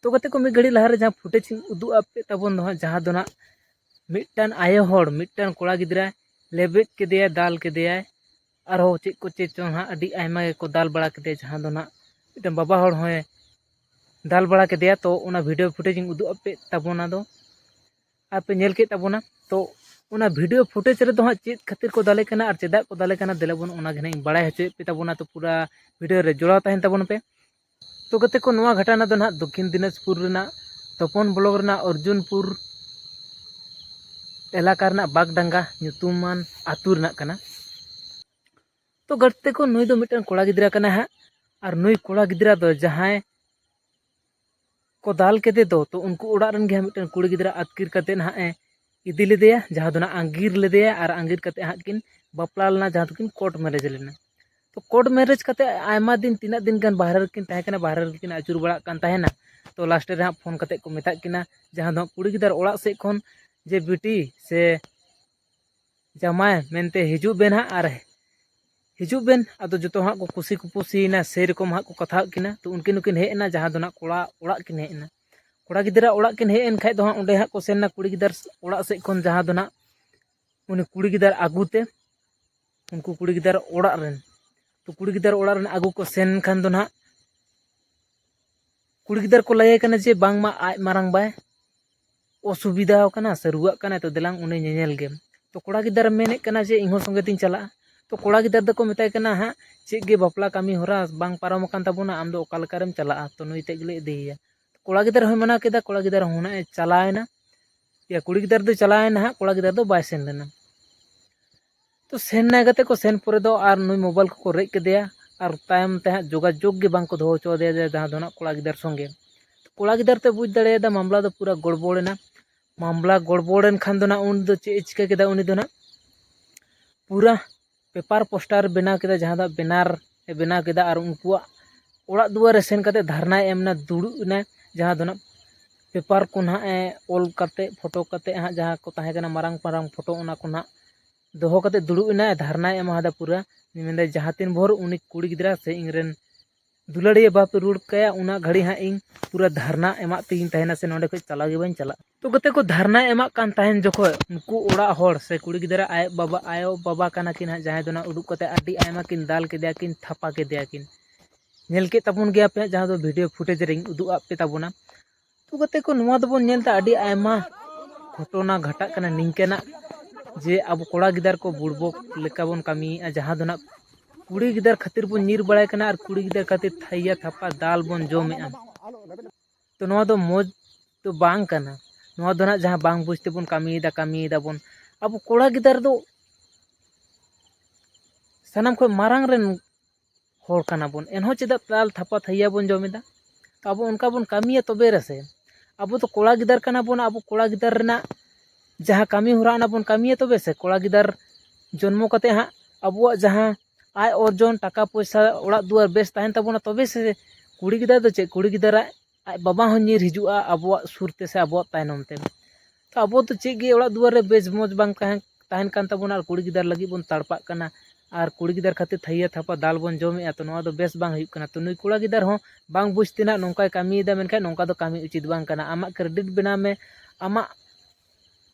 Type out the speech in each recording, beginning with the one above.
ᱛᱚ ᱜᱟᱛᱮ ᱠᱚ ᱢᱤᱫ ᱜᱷᱟᱹᱲᱤᱡ ᱞᱟᱦᱟᱨᱮ ᱡᱟᱦᱟᱸ ᱯᱷᱩᱴᱮᱡᱽ ᱤᱧ ᱩᱫᱩᱜ ᱟᱯᱮ ᱛᱟᱵᱚᱱ ᱫᱚ ᱦᱟᱸᱜ ᱡᱟᱦᱟᱸ ᱫᱚ ᱦᱟᱸᱜ ᱢᱤᱫᱴᱟᱝ ᱟᱭᱳ ᱦᱚᱲ ᱢᱤᱫᱴᱟᱝ ᱠᱚᱲᱟ ᱜᱤᱫᱽᱨᱟᱹ ᱞᱮᱵᱮᱫ ᱠᱮᱫᱮᱭᱟᱭ ᱫᱟᱞ ᱠᱮᱫᱮᱭᱟᱭ ᱟᱨᱦᱚᱸ ᱪᱮᱫ ᱠᱚ ᱪᱮᱫ ᱪᱚᱝ ᱦᱟᱸᱜ ᱟᱹᱰᱤ ᱟᱭᱢᱟ ᱜᱮᱠᱚ ᱫᱟᱞ ᱵᱟᱲᱟ ᱠᱮᱫᱮᱭᱟ ᱡᱟᱦᱟᱸ ᱫᱚ ᱦᱟᱸᱜ ᱢᱤᱫᱴᱟᱝ ᱵᱟᱵᱟ ᱦᱚᱲ ᱦᱚᱸᱭ ᱫᱟᱞ ᱵᱟᱲᱟ ᱠᱮᱫᱮᱭᱟ ᱛᱚ ᱚᱱᱟ ᱵᱷᱤᱰᱤᱭᱳ ᱯᱷᱩᱴᱮᱡᱽ ᱤᱧ ᱩᱫᱩᱜ ᱟᱯᱮ ᱛᱟᱵᱚᱱᱟ ᱫᱚ ᱟᱯᱮ ᱧᱮᱞ ᱠᱮᱫ ᱛᱟᱵᱚᱱᱟ ᱛᱚ ᱚᱱᱟ ᱵᱷᱤᱰᱤᱭᱳ ᱯᱷᱩᱴᱮᱡᱽ ᱨᱮᱫᱚ ᱦᱟᱸᱜ ᱪᱮᱫ ᱠᱷᱟᱹᱛᱤᱨ ᱠᱚ ᱫᱟᱞᱮ ᱠᱟᱱᱟ ᱟᱨ ᱪᱮᱫᱟᱜ ᱠᱚ ᱫᱟᱞᱮ ᱠᱟᱱᱟ ᱫᱮᱞᱟ ᱵᱚᱱ ᱚᱱᱟᱜᱮ ᱦᱟᱸᱜ ᱤᱧ ᱵᱟᱲᱟᱭ ᱦᱚᱪᱚᱭᱮᱫ ᱯᱮ ᱛᱟᱵᱚᱱᱟ ᱛᱚ ᱯᱩᱨᱟᱹ ᱵᱷᱤᱰᱤᱭᱳ ᱨᱮ ᱡᱚᱲᱟᱣ ᱛᱟᱦᱮᱱ ᱛᱟᱵᱚᱱ ᱯᱮ ᱛᱚ ᱜᱟᱛᱮ ᱠᱚ ᱱᱚᱣᱟ ᱜᱷᱟᱴᱟᱱᱟ ᱫᱚ ᱱᱟᱦᱟᱜ ᱫᱚᱠᱠᱷᱤᱱ ᱫᱤᱱᱟᱡᱽᱯᱩᱨ ᱨᱮᱱᱟᱜ ᱛᱚᱯᱚᱱ ᱵᱞᱚᱠ ᱨᱮᱱᱟᱜ ᱚᱨᱡᱩᱱᱯᱩᱨ ᱮᱞᱟᱠᱟ ᱨᱮᱱᱟᱜ ᱵᱟᱜᱽᱰᱟᱸᱜᱟ ᱧᱩᱛᱩᱢᱟᱱ ᱟᱹᱛᱩ ᱨᱮᱱᱟᱜ ᱠᱟᱱᱟ ᱛᱚ ᱜᱟᱛᱮ ᱠᱚ ᱱᱩᱭ ᱫᱚ ᱢᱤᱫᱴᱟᱝ ᱠᱚᱲᱟ ᱜᱤᱫᱽᱨᱟᱹ ᱠᱟᱱᱟᱭ ᱦᱟᱸᱜ ᱟᱨ ᱱᱩᱭ ᱠᱚᱲᱟ ᱜᱤᱫᱽᱨᱟᱹ ᱫᱚ ᱡᱟᱦᱟᱸᱭ ᱠᱚ ᱫᱟᱞ ᱠᱮᱫᱮ ᱫᱚ ᱛᱚ ᱩᱱᱠᱩ ᱚᱲᱟᱜ ᱨᱮᱱ ᱜᱮ ᱦᱟᱸᱜ ᱢᱤᱫᱴᱮᱱ ᱠᱩᱲᱤ ᱜᱤᱫᱽᱨᱟᱹ ᱟᱹᱛᱠᱤᱨ ᱠᱟᱛᱮᱫ ᱦᱟᱸᱜ ᱮ ᱤᱫᱤ ᱞᱮᱫᱮᱭᱟ ᱡᱟᱦᱟᱸ ᱫᱚ ᱦᱟᱸᱜ ᱟᱸᱜᱤᱨ ᱞᱮᱫᱮᱭᱟ ᱟᱨ ᱟᱸᱜᱤᱨ ᱠᱟᱛᱮᱫ ᱦᱟᱸᱜ ᱠᱤᱱ ᱵᱟᱯᱞᱟ ᱞᱮᱱᱟ ᱡᱟᱦᱟᱸ ᱫᱚᱠᱤᱱ ᱠᱳᱨᱴ ᱢᱮᱨᱮᱡᱽ ᱞᱮᱱᱟ ᱛᱚ ᱠᱳᱨᱴ ᱢᱮᱨᱮᱡᱽ ᱠᱟᱛᱮᱫ ᱟᱭᱢᱟ ᱫᱤᱱ ᱛᱤᱱᱟᱹᱜ ᱫᱤᱱ ᱜᱟᱱ ᱵᱟᱦᱨᱮ ᱨᱮᱠᱤᱱ ᱛᱟᱦᱮᱸ ᱠᱟᱱᱟ ᱵᱟᱦᱨᱮ ᱨᱮᱠᱤᱱ ᱟᱹᱪᱩᱨ ᱵᱟᱲᱟᱜ ᱠᱟᱱ ᱛᱟᱦᱮᱱᱟ ᱛᱚ ᱞᱟᱥᱴ ᱨᱮ ᱦᱟᱸᱜ ᱯᱷᱳᱱ ᱠᱟᱛᱮᱫ ᱠᱚ ᱢᱮᱛᱟᱫ ᱠᱤᱱᱟ ᱡᱟᱦᱟᱸ ᱫᱚ ᱠᱩᱲᱤ ᱜᱤᱫᱟᱹᱨ ᱚᱲᱟᱜ ᱥᱮᱫ ᱠᱷᱚᱱ ᱡᱮ ᱵᱤᱴᱤ ᱥᱮ ᱡᱟᱢᱟᱭ ᱢᱮᱱᱛᱮ ᱦᱤᱡᱩᱜ ᱵᱮᱱ ᱦᱟᱸᱜ ᱟᱨ ᱦᱤᱡᱩᱜ ᱵᱮᱱ ᱟᱫᱚ ᱡᱚᱛᱚ ᱦᱟᱸᱜ ᱠᱚ ᱠᱩᱥᱤ ᱠᱩᱯᱩᱥᱤᱭᱮᱱᱟ ᱥᱮᱨᱚᱠᱚᱢ ᱦᱟᱸᱜ ᱠᱚ ᱠᱟᱛᱷᱟᱣᱟᱫ ᱠᱤᱱᱟ ᱛᱚ ᱩᱱᱠᱤᱱ ᱦᱚᱸᱠᱤᱱ ᱦᱮᱡ ᱮᱱᱟ ᱡᱟᱦᱟᱸ ᱫᱚ ᱦᱟᱸᱜ ᱠᱚᱲᱟ ᱚᱲᱟᱜ ᱠᱤᱱ ᱦᱮᱡ ᱮᱱᱟ ᱠᱚᱲᱟ ᱜᱤᱫᱽᱨᱟᱹ ᱚᱲᱟᱜ ᱠᱤᱱ ᱦᱮᱡ ᱮᱱ ᱠᱷᱟᱡ ᱫᱚ ᱦᱟᱸᱜ ᱚᱸᱰᱮ ᱦᱟᱸᱜ ᱠᱚ ᱥᱮᱱ ᱮᱱᱟ ᱠᱩᱲᱤ ᱜᱤᱫᱟᱹᱨ ᱚᱲᱟᱜ ᱥᱮᱫ ᱠᱷᱚᱱ ᱡᱟᱦᱟᱸ ᱫᱚ ᱦᱟᱸᱜ ᱩᱱᱤ ᱠᱩᱲᱤ ᱜᱤᱫᱟᱹᱨ ᱟᱹᱜᱩ ᱛᱮ ᱩᱱᱠᱩ ᱠᱩᱲᱤ ᱜᱤᱫᱟᱹᱨ ᱚᱲᱟᱜ ᱨᱮᱱ ᱛᱚ ᱠᱩᱲᱤ ᱜᱤᱫᱟᱹᱨ ᱚᱲᱟᱜ ᱨᱮᱱ ᱟᱹᱜᱩ ᱠᱚ ᱥᱮᱱ ᱠᱷᱟᱱ ᱫᱚ ᱱᱟᱦᱟᱜ ᱠᱩᱲᱤ ᱜᱤᱫᱟᱹᱨ ᱠᱚ ᱞᱟᱹᱭᱟᱭ ᱠᱟᱱᱟ ᱡᱮ ᱵᱟᱝᱢᱟ ᱟᱡ ᱢᱟᱨᱟᱝ ᱵᱟᱭ ᱚᱥᱩᱵᱤᱫᱷᱟ ᱟᱠᱟᱱᱟ ᱥᱮ ᱨᱩᱣᱟᱹᱜ ᱠᱟᱱᱟᱭ ᱛᱚ ᱫᱮᱞᱟᱝ ᱩᱱᱤ ᱧᱮᱧᱮᱞ ᱜᱮᱢ ᱛᱚ ᱠᱚᱲᱟ ᱜᱤᱫᱟᱹᱨ ᱢᱮᱱᱮᱫ ᱠᱟᱱᱟ ᱡᱮ ᱤᱧᱦᱚᱸ ᱥᱚᱸᱜᱮ ᱛᱤᱧ ᱪᱟᱞᱟᱜᱼᱟ ᱛᱚ ᱠᱚᱲᱟ ᱜᱤᱫᱟᱹᱨ ᱫᱚᱠᱚ ᱢᱮᱛᱟᱭ ᱠᱟᱱᱟ ᱦᱟᱸᱜ ᱪᱮᱫ ᱜᱮ ᱵᱟᱯᱞᱟ ᱠᱟᱹᱢᱤ ᱦᱚᱨᱟ ᱵᱟᱝ ᱯᱟᱨᱚᱢ ᱟᱠᱟᱱ ᱛᱟᱵᱚᱱᱟ ᱟᱢᱫᱚ ᱚᱠᱟ ᱞᱮᱠᱟᱨᱮᱢ ᱪᱟᱞᱟᱜᱼᱟ ᱛᱚ ᱱᱩᱭ ᱛᱮᱫ ᱜᱮᱞᱮ ᱤᱫᱤᱭᱮᱭᱟ ᱠᱚᱲᱟ ᱜᱤᱫᱟᱹᱨ ᱦᱚᱸᱭ ᱢᱟᱱᱟ ᱠᱮᱫᱟ ᱠᱚᱲᱟ ᱜᱤᱫᱟᱹᱨ ᱦᱚᱸ ᱱᱟᱦᱟᱜ ᱮ ᱪᱟᱞᱟᱣᱮᱱᱟ ᱤᱭᱟᱹ ᱠᱩᱲᱤ ᱜᱤᱫᱟᱹᱨ ᱫᱚᱭ ᱪᱟᱞᱟᱣᱮᱱᱟ ᱦᱟᱸᱜ ᱠᱚᱲᱟ ᱜᱤᱫᱟᱹᱨ ᱫᱚ ᱵᱟᱭ ᱥᱮᱱ ᱞᱮᱱᱟ ᱛᱚ ᱥᱮᱱ ᱱᱟᱭ ᱠᱟᱛᱮ ᱠᱚ ᱥᱮᱱ ᱯᱚᱨᱮ ᱫᱚ ᱟᱨ ᱱᱩᱭ ᱢᱳᱵᱟᱭᱤᱞ ᱠᱚᱠᱚ ᱨᱮᱡ ᱠᱮᱫᱮᱭᱟ ᱟᱨ ᱛᱟᱭᱚᱢ ᱛᱮ ᱦᱟᱸᱜ ᱡᱳᱜᱟᱡᱳᱜᱽ ᱜᱮ ᱵᱟᱝᱠᱚ ᱫᱚᱦᱚ ᱦᱚᱪᱚ ᱟᱫᱮᱭᱟ ᱡᱮ ᱡᱟᱦᱟᱸ ᱫᱚ ᱦᱟᱸᱜ ᱠᱚᱲᱟ ᱜᱤᱫᱟᱹᱨ ᱥᱚᱸᱜᱮ ᱠᱚᱲᱟ ᱜᱤᱫᱟᱹᱨ ᱛᱮ ᱵᱩᱡᱽ ᱫᱟᱲᱮᱭᱟᱫᱟ ᱢᱟᱢᱞᱟ ᱫᱚ ᱯᱩᱨᱟᱹ ᱜᱚᱲᱵᱚᱲ ᱮᱱᱟ ᱢᱟᱢᱞᱟ ᱜᱚᱲᱵᱚᱲ ᱮᱱ ᱠᱷᱟᱱ ᱫᱚ ᱦᱟᱸᱜ ᱩᱱᱤ ᱫᱚ ᱪᱮᱫ ᱮ ᱪᱤᱠᱟᱹ ᱠᱮᱫᱟ ᱩᱱᱤ ᱫᱚ ᱦᱟᱸᱜ ᱯᱩᱨᱟᱹ ᱯᱮᱯᱟᱨ ᱯᱳᱥᱴᱟᱨ ᱵᱮᱱᱟᱣ ᱠᱮᱫᱟ ᱡᱟᱦᱟᱸ ᱫᱚ ᱵᱮᱱᱟᱨ ᱮ ᱵᱮᱱᱟᱣ ᱠᱮᱫᱟ ᱟᱨ ᱩᱱᱠᱩᱣᱟᱜ ᱚᱲᱟᱜ ᱫᱩᱣᱟᱹᱨ ᱨᱮ ᱥᱮᱱ ᱠᱟᱛᱮᱫ ᱫᱷᱟᱨᱱᱟᱭ ᱮᱢ ᱮᱱᱟ ᱫᱩᱲᱩᱵ ᱮᱱᱟᱭ ᱡᱟᱦᱟᱸ ᱫᱚ ᱦᱟᱸᱜ ᱯᱮᱯᱟᱨ ᱠᱚ ᱦᱟᱸᱜ ᱮ ᱚᱞ ᱠᱟᱛᱮᱫ ᱯᱷᱳᱴᱳ ᱠᱟᱛᱮᱫ ᱦᱟᱸᱜ ᱡᱟᱦᱟᱸ ᱠᱚ ᱛᱟᱦᱮᱸ ᱠᱟᱱᱟ ᱢᱟᱨᱟᱝ ᱢᱟᱨᱟᱝ ᱯᱷᱳᱴᱳ ᱚᱱᱟ ᱠᱚ ᱦᱟᱸᱜ ᱫᱚᱦᱚ ᱠᱟᱛᱮᱫ ᱫᱩᱲᱩᱵ ᱮᱱᱟᱭ ᱫᱷᱟᱨᱱᱟᱭ ᱮᱢᱟᱫᱟ ᱯᱩᱨᱟᱹ ᱢᱮᱱᱫᱟᱭ ᱡᱟᱦᱟᱸ ᱛᱤᱱ ᱵᱷᱳᱨ ᱩᱱᱤ ᱠᱩᱲᱤ ᱜᱤᱫᱽᱨᱟᱹ ᱥᱮ ᱤᱧ ᱨᱮᱱ ᱫᱩᱞᱟᱹᱲᱤᱭᱟᱹ ᱵᱟᱯᱮ ᱨᱩᱣᱟᱹᱲ ᱠᱟᱭᱟ ᱩᱱᱟᱹᱜ ᱜᱷᱟᱹᱲᱤᱡ ᱦᱟᱸᱜ ᱤᱧ ᱯᱩᱨᱟᱹ ᱫᱷᱟᱨᱱᱟ ᱮᱢᱟᱜ ᱛᱮᱜᱮᱧ ᱛᱟᱦᱮᱱᱟ ᱥᱮ ᱱᱚᱰᱮ ᱠᱷᱚᱱ ᱪᱟᱞᱟᱣ ᱜᱮ ᱵᱟᱹᱧ ᱪᱟᱞᱟᱜᱼᱟ ᱛᱚ ᱠᱟᱛᱮ ᱠᱚ ᱫᱷᱟᱨᱱᱟᱭ ᱮᱢᱟᱜ ᱠᱟᱱ ᱛᱟᱦᱮᱱ ᱡᱚᱠᱷᱚᱡ ᱩᱱᱠᱩ ᱚᱲᱟᱜ ᱦᱚᱲ ᱥᱮ ᱠᱩᱲᱤ ᱜᱤᱫᱽᱨᱟᱹ ᱟᱡ ᱵᱟᱵᱟ ᱟᱭᱳ ᱵᱟᱵᱟ ᱠᱟᱱᱟ ᱠᱤᱱ ᱦᱟᱸᱜ ᱡᱟᱦᱟᱸᱭ ᱫᱚ ᱦᱟᱸᱜ ᱩᱰᱩᱠ ᱠᱟᱛᱮᱫ ᱟᱹᱰᱤ ᱟᱭᱢᱟ ᱠᱤᱱ ᱫᱟᱞ ᱠᱮᱫᱮᱭᱟ ᱠᱤᱱ ᱛᱷᱟᱯᱟ ᱠᱮᱫᱮᱭᱟ ᱠᱤᱱ ᱧᱮᱞ ᱠᱮᱫ ᱛᱟᱵᱚᱱ ᱜᱮᱭᱟ ᱯᱮ ᱡᱟᱦᱟᱸ ᱫᱚ ᱵᱷᱤᱰᱭᱳ ᱯᱷᱩᱴᱮᱡᱽ ᱨᱤᱧ ᱩᱫᱩᱜ ᱟᱫ ᱯᱮ ᱛᱟᱵᱚᱱᱟ ᱛᱚ ᱠᱟᱛᱮ ᱠᱚ ᱱᱚᱣᱟ ᱫᱚᱵᱚᱱ ᱧᱮᱞ ᱮᱫᱟ ᱟᱹᱰᱤ ᱟᱭᱢᱟ ᱜᱷᱚᱴᱚᱱᱟ ᱜᱷᱟᱴᱟᱜ ᱠᱟᱱᱟ ᱱᱤᱝᱠᱟᱹᱱᱟᱜ ᱡᱮ ᱟᱵᱚ ᱠᱚᱲᱟ ᱜᱤᱫᱟᱹᱨ ᱠᱚ ᱵᱩᱲᱵᱚᱠ ᱞᱮᱠᱟ ᱵᱚᱱ ᱠᱟᱹᱢᱤᱭᱮᱫᱼᱟ ᱡᱟᱦᱟᱸ ᱫᱚ ᱦᱟᱸᱜ ᱠᱩᱲᱤ ᱜᱤᱫᱟᱹᱨ ᱠᱷᱟᱹᱛᱤᱨ ᱵᱚᱱ ᱧᱤᱨ ᱵᱟᱲᱟᱭ ᱠᱟᱱᱟ ᱟᱨ ᱠᱩᱲᱤ ᱜᱤᱫᱟᱹᱨ ᱠᱷᱟᱹᱛᱤᱨ ᱛᱷᱟᱹᱭᱟ ᱛᱷᱟᱯᱟ ᱫᱟᱞ ᱵᱚᱱ ᱡᱚᱢᱮᱫᱼᱟ ᱛᱚ ᱱᱚᱣᱟ ᱫᱚ ᱢᱚᱡᱽ ᱫᱚ ᱵᱟᱝ ᱠᱟᱱᱟ ᱱᱚᱣᱟ ᱫᱚ ᱱᱟᱜ ᱡᱟᱦᱟᱸ ᱵᱟᱝ ᱵᱩᱡᱽ ᱛᱮᱵᱚᱱ ᱠᱟᱹᱢᱤᱭᱮᱫᱟ ᱠᱟᱹᱢᱤᱭᱮᱫᱟ ᱵᱚᱱ ᱟᱵᱚ ᱠᱚᱲᱟ ᱜᱤᱫᱟᱹᱨ ᱫᱚ ᱥᱟᱱᱟᱢ ᱠᱷᱚᱱ ᱢᱟᱨᱟᱝ ᱨᱮᱱ ᱦᱚᱲ ᱠᱟᱱᱟ ᱵᱚᱱ ᱮᱱᱦᱚᱸ ᱪᱮᱫᱟᱜ ᱫᱟᱞ ᱛᱷᱟᱯᱟ ᱛᱷᱟᱹᱭᱟᱹ ᱵᱚᱱ ᱡᱚᱢᱮᱫᱟ ᱟᱵᱚ ᱚᱱᱠᱟ ᱵᱚᱱ ᱠᱟᱹᱢᱤᱭᱟ ᱛᱚᱵᱮ ᱨᱮᱥᱮ ᱟᱵᱚ ᱫᱚ ᱠᱚᱲᱟ ᱜᱤᱫᱟᱹᱨ ᱠᱟᱱᱟ ᱵᱚᱱ ᱟᱵᱚ ᱠᱚᱲᱟ ᱜᱤᱫᱟᱹᱨ ᱨᱮᱱᱟᱜ ᱡᱟᱦᱟᱸ ᱠᱟᱹᱢᱤ ᱦᱚᱨᱟ ᱚᱱᱟ ᱵᱚᱱ ᱠᱟᱹᱢᱤᱭᱟ ᱛᱚᱵᱮ ᱥᱮ ᱠᱚᱲᱟ ᱜᱤᱫᱟᱹᱨ ᱡᱚᱱᱢᱚ ᱠᱟᱛᱮᱫ ᱦᱟᱸᱜ ᱟᱵᱚᱣᱟᱜ ᱡᱟᱦᱟᱸ ᱟᱭ ᱚᱨᱡᱚᱱ ᱴᱟᱠᱟ ᱯᱚᱭᱥᱟ ᱚᱲᱟᱜ ᱫᱩᱣᱟᱹᱨ ᱵᱮᱥ ᱛᱟᱦᱮᱱ ᱛᱟᱵᱚᱱᱟ ᱛᱚᱵᱮ ᱥᱮ ᱠᱩᱲᱤ ᱜᱤᱫᱟᱹᱨ ᱫᱚ ᱪᱮᱫ ᱠᱩᱲᱤ ᱜᱤᱫᱟᱹᱨᱟᱜ ᱟᱡ ᱵᱟᱵᱟ ᱦᱚᱸ ᱧᱤᱨ ᱦᱤᱡᱩᱜᱼᱟ ᱟᱵᱚᱣᱟᱜ ᱥᱩᱨ ᱛᱮᱥᱮ ᱟᱵᱚᱣᱟᱜ ᱛᱟᱭᱱᱚᱢ ᱛᱮ ᱛᱚ ᱟᱵᱚ ᱫᱚ ᱪᱮᱫ ᱜᱮ ᱚᱲᱟᱜ ᱫᱩᱣᱟᱹᱨ ᱨᱮ ᱵᱮᱥ ᱢᱚᱡᱽ ᱵᱟᱝ ᱛᱟᱦᱮᱱ ᱛᱟᱦᱮᱱ ᱠᱟᱱ ᱛᱟᱵᱚᱱᱟ ᱟᱨ ᱠᱩᱲᱤ ᱜᱤᱫᱟᱹᱨ ᱞᱟᱹᱜᱤᱫ ᱵᱚᱱ ᱛᱟᱲᱯᱟᱜ ᱠᱟᱱᱟ ᱟᱨ ᱠᱩᱲᱤ ᱜᱤᱫᱟᱹᱨ ᱠᱷᱟᱹᱛᱤᱨ ᱛᱷᱟᱹᱭᱟᱹ ᱛᱷᱟᱯᱟ ᱫᱟᱞ ᱵᱚᱱ ᱡᱚᱢᱮᱜᱼᱟ ᱛᱚ ᱱᱚᱣᱟ ᱫᱚ ᱵᱮᱥ ᱵᱟᱝ ᱦᱩᱭᱩᱜ ᱠᱟᱱᱟ ᱛᱚ ᱱᱩᱭ ᱠᱚᱲᱟ ᱜᱤᱫᱟᱹᱨ ᱦᱚᱸ ᱵᱟᱝ ᱵᱩᱡᱽ ᱛᱮ ᱱᱟᱜ ᱱᱚᱝᱠᱟᱭ ᱠᱟᱹᱢᱤᱭᱮᱫᱟ ᱢᱮᱱᱠᱷᱟᱱ ᱱᱚᱝᱠᱟ ᱫᱚ ᱠᱟᱹᱢᱤ ᱩᱪᱤᱛ ᱵᱟᱝ ᱠᱟᱱᱟ ᱟᱢᱟᱜ ᱠᱨᱮᱰᱤᱴ ᱵᱮᱱᱟᱣ ᱢᱮ ᱟᱢᱟᱜ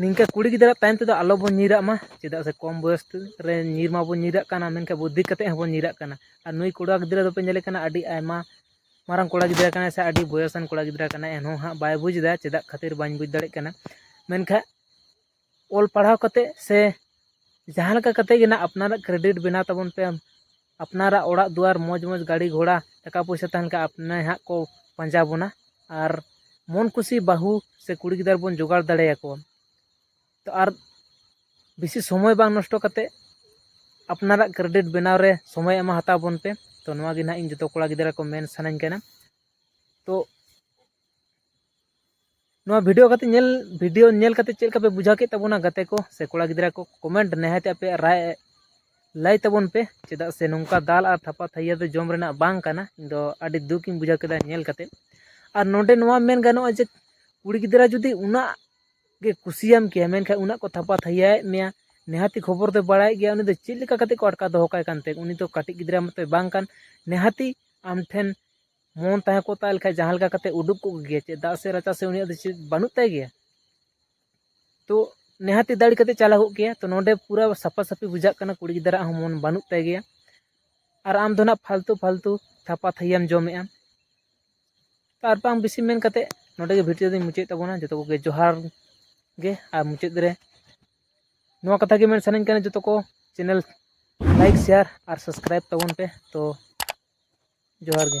ᱱᱤᱝᱠᱟᱹ ᱠᱩᱲᱤ ᱜᱤᱫᱽᱨᱟᱹ ᱛᱟᱭᱚᱢ ᱛᱮᱫᱚ ᱟᱞᱚᱵᱚᱱ ᱧᱤᱨᱟᱜ ᱢᱟ ᱪᱮᱫᱟᱜ ᱥᱮ ᱠᱚᱢ ᱵᱚᱭᱚᱥ ᱨᱮ ᱧᱤᱨ ᱢᱟᱵᱚᱱ ᱧᱤᱨᱟᱜ ᱠᱟᱱᱟ ᱢᱮᱱᱠᱷᱟᱱ ᱵᱩᱫᱽᱫᱷᱤ ᱠᱟᱛᱮᱫ ᱦᱚᱸᱵᱚᱱ ᱧᱤᱨᱟᱜ ᱠᱟᱱᱟ ᱟᱨ ᱱᱩᱭ ᱠᱚᱲᱟ ᱜᱤᱫᱽᱨᱟᱹ ᱫᱚᱯᱮ ᱧᱮᱞᱮ ᱠᱟᱱᱟ ᱟᱹᱰᱤ ᱟᱭᱢᱟ ᱢᱟᱨᱟᱝ ᱠᱚᱲᱟ ᱜᱤᱫᱽᱨᱟᱹ ᱠᱟᱱᱟᱭ ᱥᱮ ᱟᱹᱰᱤ ᱵᱚᱭᱚᱥᱟᱱ ᱠᱚᱲᱟ ᱜᱤᱫᱽᱨᱟᱹ ᱠᱟᱱᱟᱭ ᱮᱱᱦᱚᱸ ᱦᱟᱸᱜ ᱵᱟᱭ ᱵᱩᱡᱽ ᱮᱫᱟ ᱪᱮᱫᱟᱜ ᱠᱷᱟᱹᱛᱤᱨ ᱵᱟᱹᱧ ᱵᱩᱡᱽ ᱫᱟᱲᱮᱭᱟᱜ ᱠᱟᱱᱟ ᱢᱮᱱᱠᱷᱟᱱ ᱚᱞ ᱯᱟᱲᱦᱟᱣ ᱠᱟᱛᱮᱫ ᱥᱮ ᱡᱟᱦᱟᱸ ᱞᱮᱠᱟ ᱠᱟᱛᱮᱫ ᱜᱮ ᱱᱟᱦᱟᱜ ᱟᱯᱱᱟᱨᱟᱜ ᱠᱨᱮᱰᱤᱴ ᱵᱮᱱᱟᱣ ᱛᱟᱵᱚᱱ ᱯᱮ ᱟᱯᱱᱟᱨᱟᱜ ᱚᱲᱟᱜ ᱫᱩᱣᱟᱹᱨ ᱢᱚᱡᱽ ᱢᱚᱡᱽ ᱜᱟᱹᱰᱤ ᱜᱷᱚᱲᱟ ᱴᱟᱠᱟ ᱯᱚᱭᱥᱟ ᱛᱟᱦᱮᱱ ᱠᱷᱟᱱ ᱟᱯᱱᱮ ᱦᱟᱸᱜ ᱠᱚ ᱯᱟᱸᱡᱟ ᱵᱚᱱᱟ ᱟᱨ ᱢᱚᱱ ᱠᱩᱥᱤ ᱵᱟᱹᱦᱩ ᱥᱮ ᱠᱩᱲᱤ ᱜᱤᱫᱟᱹᱨ ᱵᱚᱱ ᱡᱚᱜᱟᱲ ᱫᱟᱲᱮ ᱟᱠᱚᱣᱟ ᱛᱚ ᱟᱨ ᱵᱮᱥᱤ ᱥᱚᱢᱚᱭ ᱵᱟᱝ ᱱᱚᱥᱴᱚ ᱠᱟᱛᱮ ᱟᱯᱱᱟᱨᱟᱜ ᱠᱨᱮᱰᱤᱴ ᱵᱮᱱᱟᱣ ᱨᱮ ᱥᱚᱢᱚᱭ ᱮᱢᱟ ᱦᱟᱛᱟᱣ ᱵᱚᱱ ᱯᱮ ᱛᱚ ᱱᱚᱣᱟ ᱜᱮ ᱱᱟᱦᱟᱜ ᱤᱧ ᱡᱚᱛᱚ ᱠᱚᱲᱟ ᱜᱤᱫᱽᱨᱟᱹ ᱠᱚ ᱢᱮᱱ ᱥᱟᱱᱟᱧ ᱠᱟᱱᱟ ᱛᱚ ᱱᱚᱣᱟ ᱵᱷᱤᱰᱤᱭᱳ ᱠᱟᱛᱮ ᱧᱮᱞ ᱵᱷᱤᱰᱤᱭᱳ ᱧᱮᱞ ᱠᱟᱛᱮ ᱪᱮᱫ ᱞᱮᱠᱟ ᱯᱮ ᱵᱩᱡᱷᱟᱹᱣ ᱠᱮᱫ ᱛᱟᱵᱚᱱᱟ ᱜᱟᱛᱮ ᱠᱚ ᱥᱮ ᱠᱚᱲᱟ ᱜᱤᱫᱽᱨᱟᱹ ᱠᱚ ᱠᱚᱢᱮᱱᱴ ᱱᱤᱦᱟᱹᱛ ᱟᱯᱮ ᱨᱟᱭ ᱞᱟᱹᱭ ᱛᱟᱵᱚᱱ ᱯᱮ ᱪᱮᱫᱟᱜ ᱥᱮ ᱱᱚᱝᱠᱟ ᱫᱟᱞ ᱟᱨ ᱛᱷᱟᱯᱟ ᱛᱷᱟᱹᱭᱟᱹ ᱫᱚ ᱡᱚᱢ ᱨᱮᱱᱟᱜ ᱵᱟᱝ ᱠᱟᱱᱟ ᱤᱧ ᱫᱚ ᱟᱹᱰᱤ ᱫᱩᱠ ᱤᱧ ᱵᱩᱡᱷᱟᱹᱣ ᱠᱮᱫᱟ ᱧᱮᱞ ᱠᱟᱛᱮ ᱟᱨ ᱱᱚᱰᱮ ᱱᱚᱣᱟ ᱢᱮᱱ ᱜᱟᱱᱚᱜᱼᱟ ᱡᱮ ᱠᱩᱲᱤ ᱜᱤᱫᱽᱨᱟᱹ ᱡᱩᱫᱤ ᱩᱱᱟᱹᱜ ᱜᱮ ᱠᱩᱥᱤᱭᱟᱢ ᱠᱮᱭᱟ ᱢᱮᱱᱠᱷᱟᱱ ᱩᱱᱟᱹᱜ ᱠᱚ ᱛᱷᱟᱯᱟ ᱛᱷᱟᱹᱭᱟᱭᱮᱫ ᱢᱮᱭᱟ ᱱᱤᱦᱟᱹᱛᱤ ᱠᱷᱚᱵᱚᱨ ᱫᱚ ᱵᱟᱲᱟᱭ ᱜᱮᱭᱟ ᱩᱱᱤ ᱫᱚ ᱪᱮᱫ ᱞᱮᱠᱟ ᱠᱟᱛᱮ ᱠᱚ ᱟᱴᱠᱟᱣ ᱫᱚᱦᱚ ᱠᱟᱭ ᱠᱟᱱᱛᱮ ᱩᱱᱤ ᱫᱚ ᱠᱟᱹᱴᱤᱡ ᱜᱤᱫᱽᱨᱟᱹ ᱢᱚᱛᱚᱭ ᱵᱟᱝ ᱠᱟᱱ ᱱᱤᱦᱟᱹᱛᱤ ᱟᱢ ᱴᱷᱮᱱ ᱢᱚᱱ ᱛᱟᱦᱮᱸ ᱠᱚᱜ ᱛᱟᱭ ᱞᱮᱠᱷᱟᱡ ᱡᱟᱦᱟᱸ ᱞᱮᱠᱟ ᱠᱟᱛᱮ ᱩᱰᱩᱠ ᱠᱚᱜ ᱜᱮᱭᱟ ᱪᱮᱫ ᱫᱟᱜ ᱥᱮ ᱨᱟᱪᱟ ᱥᱮ ᱩᱱᱤᱭᱟᱜ ᱫᱚ ᱪᱮᱫ ᱵᱟᱹᱱᱩᱜ ᱛᱟᱭ ᱜᱮᱭᱟ ᱛᱚ ᱱᱤᱦᱟᱹᱛᱤ ᱫᱟᱹᱲ ᱠᱟᱛᱮ ᱪᱟᱞᱟᱣ ᱠᱚᱜ ᱜᱮᱭᱟ ᱛᱚ ᱱᱚᱰᱮ ᱯᱩᱨᱟᱹ ᱥᱟᱯᱷᱟ ᱥᱟᱹᱯᱷᱤ ᱵᱩᱡᱷᱟᱹᱜ ᱠᱟᱱᱟ ᱠᱩᱲᱤ ᱜᱤᱫᱽᱨᱟᱹᱣᱟᱜ ᱦᱚᱸ ᱢᱚᱱ ᱵᱟᱹᱱᱩᱜ ᱛᱟᱭ ᱜᱮᱭᱟ ᱟᱨ ᱟᱢ ᱫᱚ ᱱᱟᱜ ᱯᱷᱟᱞᱛᱩ ᱯᱷᱟᱞᱛᱩ ᱛᱷᱟᱯᱟ ᱛᱷᱟᱹᱭᱟᱢ ᱡᱚᱢᱮᱜᱼᱟ ᱟᱨ ᱵᱟᱝ ᱵᱮᱥᱤ ᱢᱮᱱ ᱠᱟᱛᱮ ᱱᱚᱰᱮ ᱜᱮ ᱵᱷᱤᱰᱤᱭᱳ ᱫᱚᱧ ᱢᱩᱪᱟᱹᱫ ᱛᱟᱵᱚᱱᱟ ᱡᱚᱛᱚ ᱠᱚᱜᱮ ᱡᱚᱦᱟᱨ ᱜᱮ ᱟᱨ ᱢᱩᱪᱟᱹᱫ ᱨᱮ ᱱᱚᱣᱟ ᱠᱟᱛᱷᱟ ᱜᱮ ᱢᱮᱱ ᱥᱟᱱᱟᱧ ᱠᱟᱱᱟ ᱡᱚᱛᱚ ᱠᱚ ᱪᱮᱱᱮᱞ ᱞᱟᱭᱤᱠ ᱥᱮᱭᱟᱨ ᱟᱨ ᱥᱟᱵᱥᱠᱨᱟᱭᱤᱵᱽ ᱛᱟᱵᱚᱱ ᱯᱮ ᱛᱚ ᱡᱚᱦᱟᱨ ᱜᱮ